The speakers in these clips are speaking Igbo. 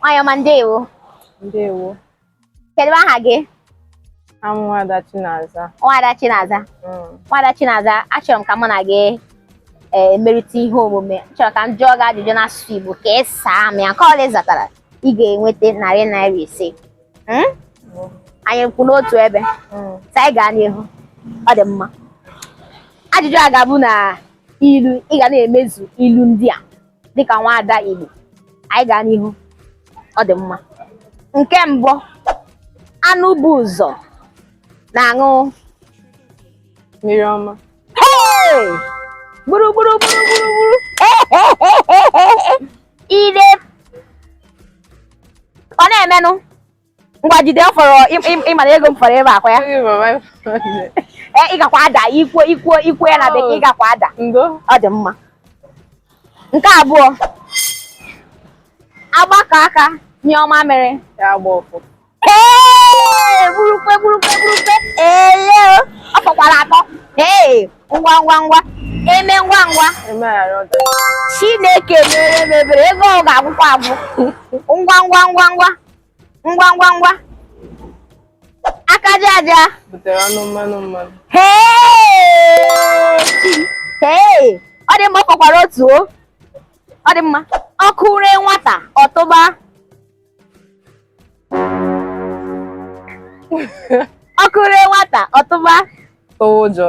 Nwanyị ọma ndewo. Ndewo. Kedu aha gị? Aha m bụ Nwada Chinaza. Nwada Chinaza. Mm. Nwada Chinaza, achọrọ m ka mụ na gị eh, merịta ihe omume. M chọrọ ka m jụọ gị ajụjụ n'asụsụ Igbo ka ị saa m ya. Nke ọbụla ị zatara, ị ga-enweta narị naira ise. Hmm? Mm. Anyị kwụ n'otu ebe. Mm. Sị anyị gaa n'ihu. Ọ dị mma. Ajụjụ a ga-abụ na ilu ị ga na-emezu ilu ndị a dịka nwaada Igbo anyị gaa n'ihu ọ dị mma nke mbụ anụ bu ụzọ na-aṅụ mmiri ọma gburu gburu gburu gburu gburu ire ọ na-emenụ ngwa jide fọrọ ị ma na ego m fọrọ ebe akwa ya ee eh, ị gakwa ada i kwuo i kwuo i kwuo ya na oh. bekee ị gakwa ada ọ dị mma nke abụọ agbakọọ aka nyụọ mamịrị ee burukwe burukwe burukwe ele ọ fọkwara atọ ee ngwa ngwa ngwa eme ngwa ngwa chineke meere m ebere ego ọ ga-agwụkwa agwụ ngwa ngwa ngwa ngwa ngwa ngwa ngwa aka aja aja butere ọnụ mmanụ mmanụ hee ọ dị mma ọ fọkwara otu o ọ dị mma ọkụ ree nwata ọ tụba ọkụ ree nwata ọ tụba ụjọ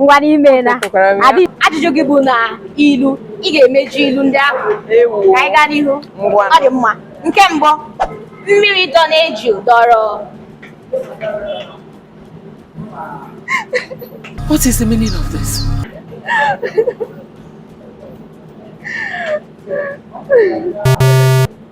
ngwa n'ime na Ekwukwara m ya. Adị- ajụjụ gị bụ na ilu ị ga-emeju ilu ndị ahụ Ewu. ka anyị gaa n'ihu Ngwa. ọ dị mma nke mbụ mmiri dọ n'eju dọrọ What is the meaning of this?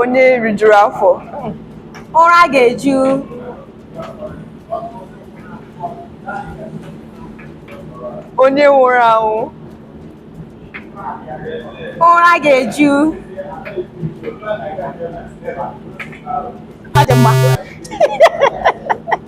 onye rijuru afọ ụra ga-eju onye nwụrụ anwụ ụra ga-eju ọ dị mma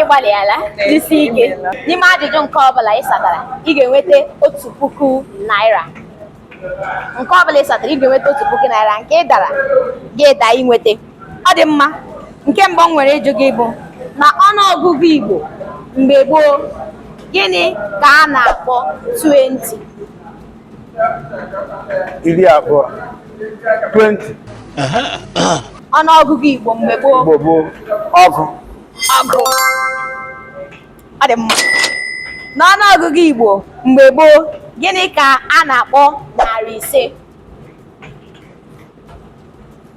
ị gbalịala jisi ike n'ime ajụjụ nke ọbụla ị satara ị ga-enweta otu puku naira nke ọbụla ị satara ị ga-enweta otu puku naira nke ị dara gị daa inweta ọ dị mma nke mbụ m nwere ịjụ gị bụ na ọnụọgụgụ Igbo mgbe gboo gịnị ka a na-akpọ 20 iri abụọ 20 ọnụọgụgụ Igbo mgbe gboo Igbo gboo ọgụ ọgụ ọ dị mma n'ọnụọgụgụ Igbo mgbe gboo gịnị ka a na-akpọ narị ise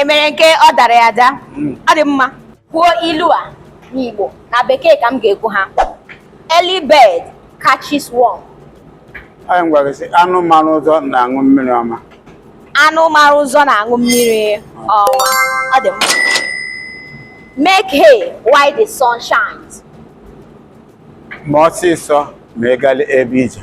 e mere nke ọ dara ya ada hmm. ọ dị mma kwuo ilu a n'Igbo na bekee ka m ga-ekwu ha early bird catches worm anyị gwara sị anụ mara ụzọ na-aṅụ mmiri ọma anụ mara ụzọ na-aṅụ mmiri ọma ọ dị mma make hay while the sun shines ma ọsịsọ ma ị ebe ije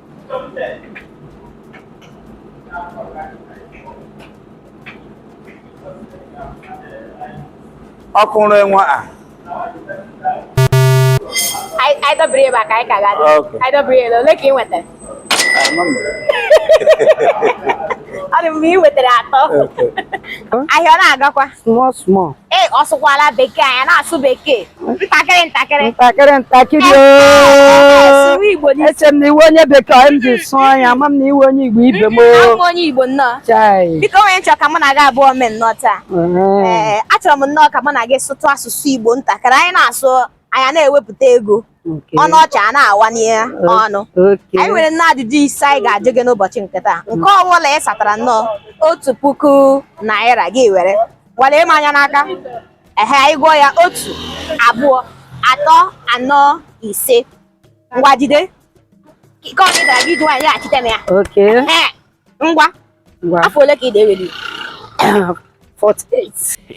ọkụrụ enwe a anyị dọbiri ebe a ka anyị ka ga-adị anyị dọbiri ebe ole ka ị nwetara ọ dị m ka ị nwetara atọ ahịa ọ na-agakwa small small ee ọ sụkwala bekee anyị na-asụ bekee ntakịrị ntakịrị ntakịrị ntakịrị sụrụ igbo n'isi eche m na ị wụ onye bekee ọ m ji sụọ ya ama m na ị wụ onye igbo ibe m awụ m onye igbo nnọọ chai biko onye nchọ ka mụ na gị abụọ mee nnọọ taa Ee. ee achọrọ m nnọọ ka mụ na gị sụtụ asụsụ igbo ntakịrị anyị na-asụ anyị a na-ewepụta ego Okay. ọnụ ọcha a na-awa n'ihe ọnụ Okay. anyị nwere nnọọ ajụjụ ise anyị ga-ajụ gị n'ụbọchị nke taa nke ọbụla ị satara nnọọ otu puku naira gị were ngwa lee m anya n'aka ehe anyị gụọ ya otu abụọ atọ anọ ise ngwa jide nke ọ gị dara gị ji nwayọọ nyeghachite m ya Okay. Ehe. ngwa afọ ole ka ị na-eweli 48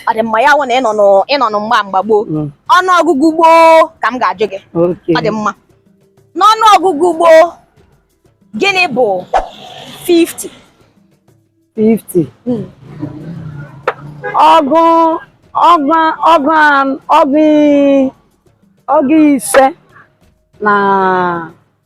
ọ dị mma ya wụ na ị nọnụ mgba mgba gboo mm. ọnụ ọgụgụ gboo ka m ga-ajụ gị ọ dị mma n'ọnụ ọgụgụ gboo gịnị bụ 50 50 mm. ọgụ ọgụ ọgụ ọgụ ọgụ ise na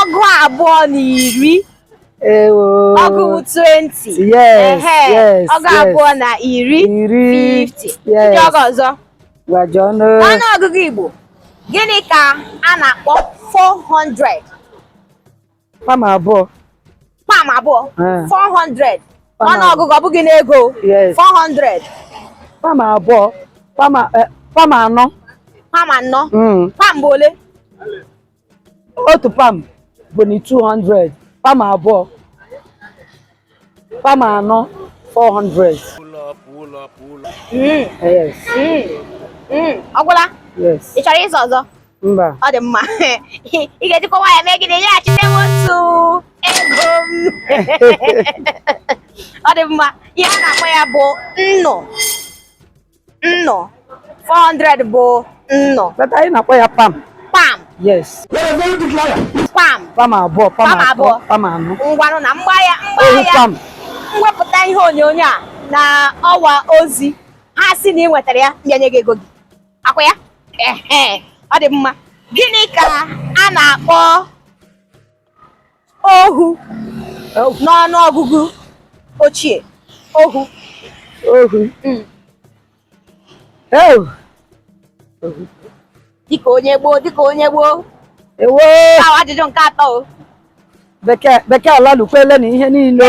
ọgụ abụọ na iri ọgụ 20 yes yes ọgụ abụọ na iri 50 ndị ọgụ ọzọ n'ọnụ ọgụgụ Igbo gịnị ka a na-akpọ 400 pam abụọ pam abụọ 400 ọnụ ọgụgụ ọ bụghị n'ego 400 pam abụọ pam eh, anọ pam anọ hmm. pam bụ ole otu pam bụnụ 200 pam abụọ Pam anọ 400. Mm, Yes. mm, mm. ọ gwụla Yes. ị chọrọ ịza ọzọ Mba. ọ dị mma ị ga-ejikwa nwayọọ mee gịnị nyeghachite m otu ego m ọ dị mma ihe a na-akpọ ya bụ nnụ nnụ 400 bụ nnụ but anyị na-akpọ ya pam pam yes pam pam abụọ pam abụọ pam anọ ngwanụ na mgba ya mgba ya m wepụta ihe onyonyo a na ọwa ozi ha sị na ị nwetara ya m bịa nye gị ego gị ọkwa ya ọ dị mma gịnị ka a na-akpọ ohu n'ọnụ ọgụgụ ochie ohu ohu hmm. dịka onye gboo dịka onye gboo ewo ajụjụ nke atọ bekee bekee alalụkwele na ihe niile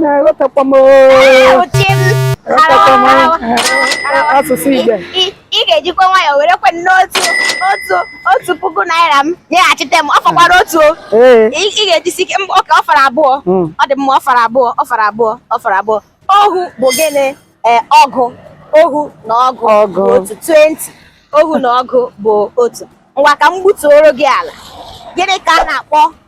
na-ewetakwa m asụsụ Igbo ị ga-ejikwa nwayọọ were kwanụ otu puku naira m nyeghachite m ọ fọkwara otu ị ga-ejisi ike okay ọ fara abụọ hmm. ọ dị mma ọ fara abụọ ohu bụ gịnị eh, ọgụ ohu na ọgụ bụ otu 20 ohu na ọgụ bụ otu ngwa ka m gbutuoro gị ala gịnị ka a na-akpọ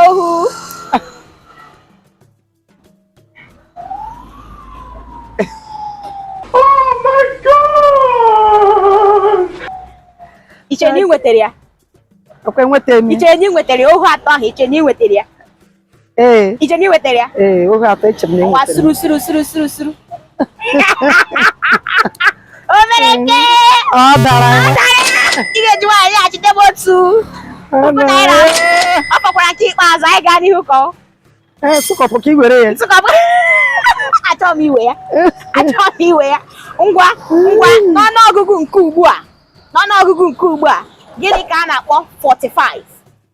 ohu i che na ị nwetara ya ọkwa enweta m ya i che na ị nwetara ya ohu atọ ahụ i che na ị nwetara ya ee i che na ị nwetara ya ee ohu atọ eche m na ọwa enwetara suru suru suru suru suru o mere nke ọ dara ya ị ga-eji nwayọọ nyeghachite m otu puku naira Ọ dara ya. ọ fọkwara nke ikpeazụ anyị gaa n'ihu ka ọ ee sụkọpụ ka i were ya nsụkọbụ achọọ m iwe ya achọọ m iwe ya ngwa ngwa n'ọnụọgụgụ nke ugbu a n'ọnụọgụgụ nke ugbu a gịnị ka a na-akpọ 45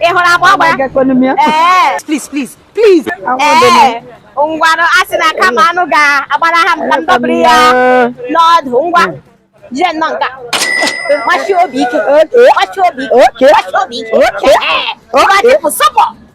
ị hụrụ agba ọ gbara ee please please please ee ngwanụ a sị na kama anụ ga-agbalaha m ka m dọbiri ya n'ọdụ ngwa jide nnọọ nke a gbachi obi ike gbachi obi ike gbachi obi ike ee ngwa tipụ sọpọ